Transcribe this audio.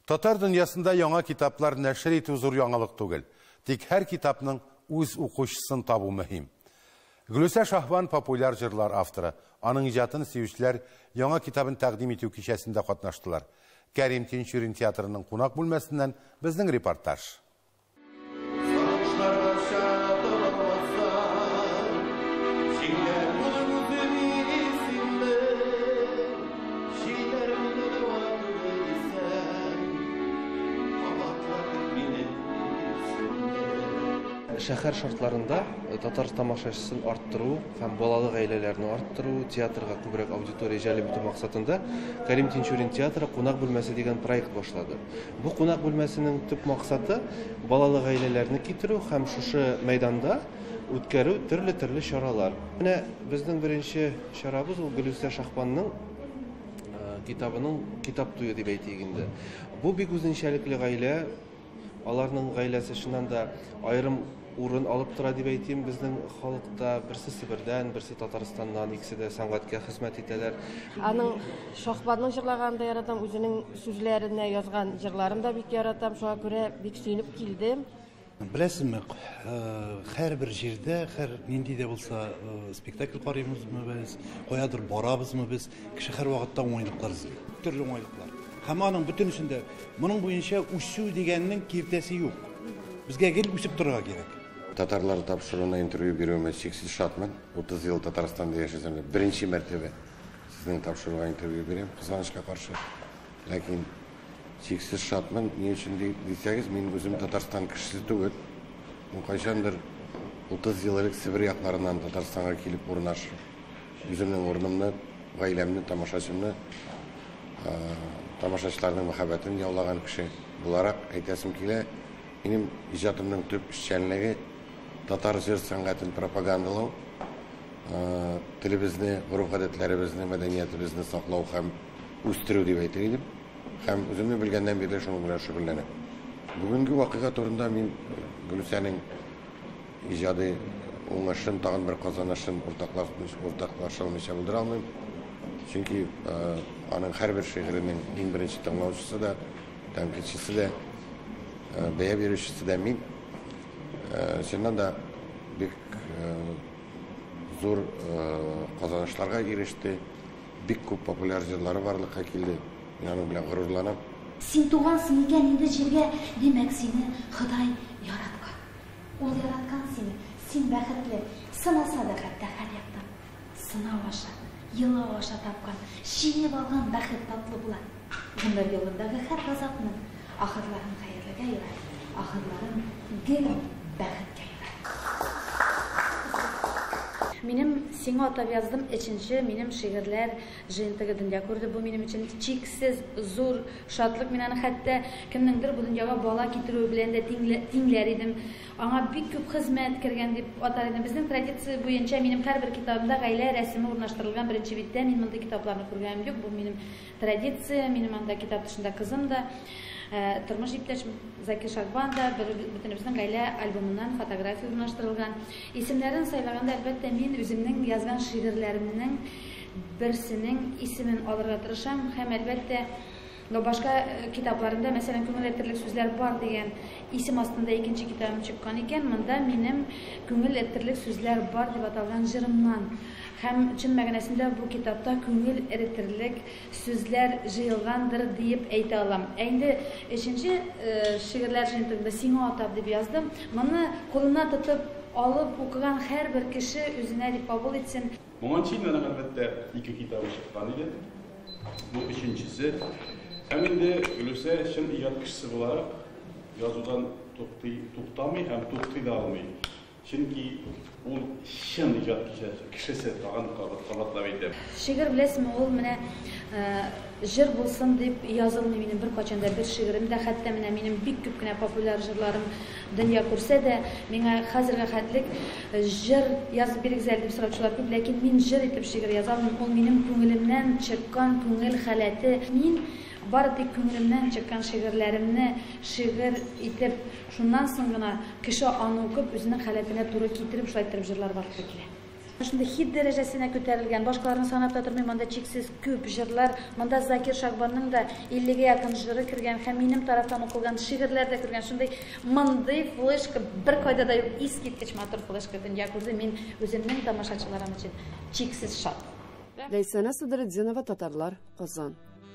Татар дөньясында яңа китаплар нәшер итү зур яңалык түгел. Тик һәр китапның үз укучысын табу мөһим. Гөлүсә Шаһбан популяр җырлар авторы. Аның иҗатын сөючеләр яңа китабын тәкъдим итү кичәсендә катнаштылар. Кәрим Тинчурин театрының кунак бүлмәсеннән безнең репортаж. Шәһәр шартларында татар тамашачысын арттыру һәм балалы гаиләләрне арттыру, театрга күбрәк аудитория җәлеп итү максатында Кәрим Тинчурин театры кунак бүлмәсе дигән проект башлады. Бу кунак бүлмәсенең төп максаты, балалы гаиләләрне китерү һәм шушы мәйданда үткәрү төрле-төрле чаралар. Менә безнең беренче чарабыз ул Гөлүсә Шахманның китабының китап туе дип әйтик инде. Бу бик үзенчәлекле гаилә, аларның гаиләсе чыннан да аерым урын алып тора дип әйтим безнең халыкта. Берсе Себердән, берсе Татарстаннан, икесе дә сәнгатькә хезмәт итәләр. Аның Шаһбанның җырлаганын да яратам, үзенең сүзләренә язган җырларын да бик яратам, шуңа күрә бик сөенеп килдем. Беләсезме, һәрбер җирдә, һәр нинди дә булса спектакль карыйбызмы без, каядыр барабызмы без, Кеше һәрвакытта уңайлыклар эзли. Төрле уңайлыклар. Һәм аның бөтенесендә моның буенча үсү дигәннең киртәсе юк. Безгә гел үсеп торырга кирәк. Татарлар тапшыруына интервью бирүемә чиксез шатмын. 30 ел Татарстанда яшәсәм дә, беренче мәртәбә сезнең тапшыруга интервью бирәм, кызганычка каршы. Ләкин чиксез шатмын. Ни өчен дисәгез, мин үзем Татарстан кешесе түгел. Мин кайчандыр 30 ел элек Себер якларыннан Татарстанга килеп урнашып, Үземнең урынымны, гаиләмне, тамашачымны, тамашачыларның мәхәббәтен яулаган кеше буларак әйтәсем килә, минем иҗатымның төп эшчәнлеге татар җыр сәнгатен пропагандалау, телебезне, гореф-гадәтләребезне, мәдәниятебезне саклау һәм үстерү дип әйтер идем. Һәм үземне белгәннән бирле шуның белән шөгыльләнәм. Бүгенге вакыйга турында мин Гөлүсәнең Иҗади уңышын, тагын бер казанышын уртаклаша алмыйча булдыра алмыйм. Чөнки аның һәрбер шигыренең иң беренче тыңлаучысы да, тәнкыйтьчесе дә, бәя бирүчесе дә мин. Чыннан да бик зур казанышларга иреште, бик күп популяр җырлары барлыкка килде. Мин аның белән горурланам. Син тугансың икән инде җиргә, Димәк, сине Ходай яраткан. Ул яраткан сине, син бәхетле, сынаса да хәтта һәр яктан. Сынау аша, елау аша тапкан, җыеп алган бәхет татлы була. Гомер юлындагы һәр газапның ахырларын хәерлегә юрар, ахырларын гел бәхеткә юрар. Минем сиңа атап яздым эченче минем шигырьләр. Җыентыгы дөнья күрде, бу минем өчен чиксез зур шатлык. Мин аны хәтта кемнеңдер бу дөньяга бала китерүе белән дә тиңләр идем. Аңа бик күп хезмәт кергән дип атар идем. Безнең традиция буенча минем һәрбер китабымда гаилә рәсеме урнаштырылган беренче биттә. Мин мондый китапларны күргәнем юк. Бу минем традиция. Минем анда китап тышында кызым да, э, тормыш иптәшем Закир Шагбан да, бөтенебезнең гаилә альбомыннан фотография урнаштырылган. Исемнәрен сайлаганда, әлбәттә, мин үземнең язган шигырьләремнең берсенең исемен алырга тырышам һәм, әлбәттә, но башка китапларында, мәсәлән, Күңел әйтерлек сүзләр бар дигән исем астында икенче китабым чыккан икән, монда минем Күңел әйтерлек сүзләр бар дип аталган җырымнан. Һәм, чын мәгънәсендә, бу китапта күңел эретерлек сүзләр җыелгандыр диеп әйтә алам. Ә инде өченче шигырьләр җыентыгында Сиңа атап дип яздым. Моны кулына тотып алып укыган һәрбер кеше үзенә дип кабул итсен. Моңа чейин аның, әлбәттә, ике китабы чыккан иде. Бу өченчесе. Һәм инде Гөлүсә чын иҗат кешесе буларак язудан туктый, туктамый һәм туктый да алмый. Чөнки ул чын иҗат кешесе, тагын кабатлап әйтәм. Шигырь, беләсезме, ул менә Җыр булсын дип язылмый минем беркайчан да бер шигырем дә, хәтта менә минем бик күп кенә популяр җырларым дөнья күрсә дә, миңа хәзергә хәтлек җыр язып бирегез әле дип сораучылар күп, ләкин мин җыр итеп шигырь яза алмыйм, ул минем күңелемнән чыккан күңел халәте, мин бары тик күңелемнән чыккан шигырьләремне шигырь итеп, шуннан соң гына кеше аны укып үзенең халәтенә туры китереп шулай иттереп җырлар барлыкка килә. Менә шундый хит дәрәҗәсенә күтәрелгән, башкаларны санап та тормыйм, анда чиксез күп җырлар, монда Закир Шагбанның да иллегә якын җыры кергән һәм минем тарафтан укылган шигырьләр дә кергән, шундый мондый флешка беркайда да юк, искиткеч матур флешка дөнья күрде, мин үземнең тамашачыларым өчен чиксез шат. Ләйсәнә Садретдинова Татарлар, Казан.